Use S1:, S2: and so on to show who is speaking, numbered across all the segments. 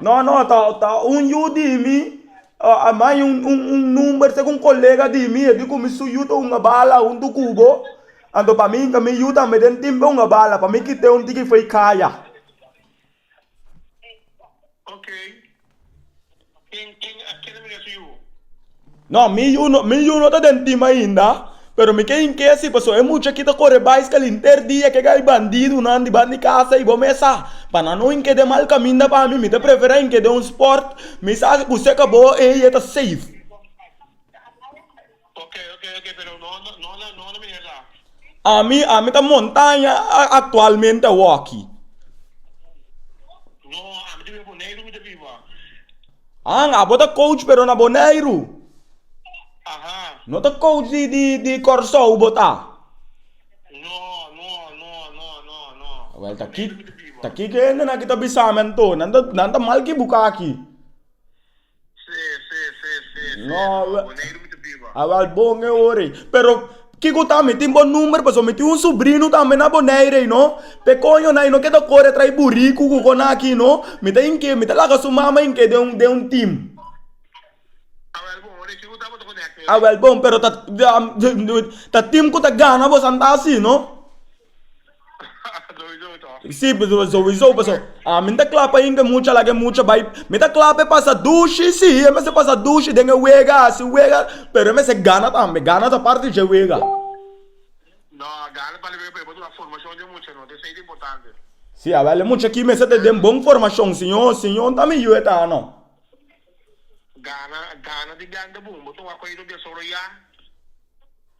S1: No, no, ta, ta un yu di mi, a manda un, un, un number seki un colega di mi, e di cu mi su yu ta hunga bala huntu cu bo. Anto pa mi yinka mi yu tambe den timp e hunga bala, pa mi kite un tiki fey caya. Ken ken a keda mira su yu? No, mi yu no, mi yu no ta den tim ainda, pero mi ke hink'e si paso e mucha aki ta kore baiskal henter dia, ke gai bandidunan dibatin di kasa y bo mes sa, pa nan no hink'e den mal kaminda pa mi, mi ta prefera hink'e den un sport mi sa ku seka bo ei e ta safe. Ami, ami ta montaña actualmente awor aki. Han, abo ta coach pero na Boneiru? No ta coach di Kòrsou bo ta? Wèl, ta kiko hendenan ki ta bisa mi anto, nan ta mal ki buka aki. No awal bon e ora ei. Pero kiko ta mi tin bo number paso mi tin un subrino tambe na bonaire ei no. Pe coño na i no ke ta core trae buriku ku ko na aki no. Mi ta inke mi ta laga su mama inke den un den un team. Awal bon pero ta team ku ta gana bo san ta asi no. Zowisou to. Sí, pasobra zowisou paso ami no ta kla pa yinga mucha laga e mucha bai mi ta kla pa e pasa dushi sí e mester pasa dushi den e wega hasi wega pero e mester gana tambe gana ta parti dje wega No, a gana bali wega pero e por duna formashon den mucha no ta esei ta importante. Sí awel e mucha aki mester ta den bon formashon si no si no ta mi yu e ta no. Gana gana di blanca bun bo tuma koido desoroyá.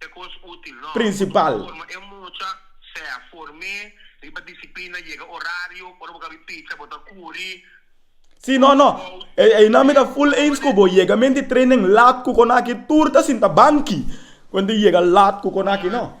S1: E kos útil, no. Prinsipal. Bo forma e mucha, sea form'é, riba disiplina, yega orario, ora bo ka bi picha bo ta kuri, Si no, no. Einan mi ta full eens ku bo, yega menti training lat ku konakí tur ta sinta banki, konta yega lat ku konakí, no.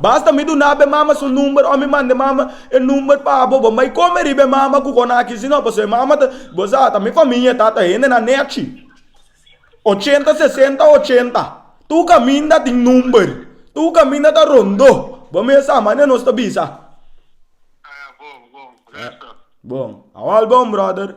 S1: Basta mi duna be mama su number o mi manda e mama e number pa abo. Bo mai come riba e mama cu conaki sino pasobra e mama ta, bo sa ta mi famia ta ta hendenan nechi. Ochenta sesenta ochenta. Tur caminda tin number. Tur caminda ta rondo. Bo mes sa mane nos ta bisa. Bon. Awal bon brother.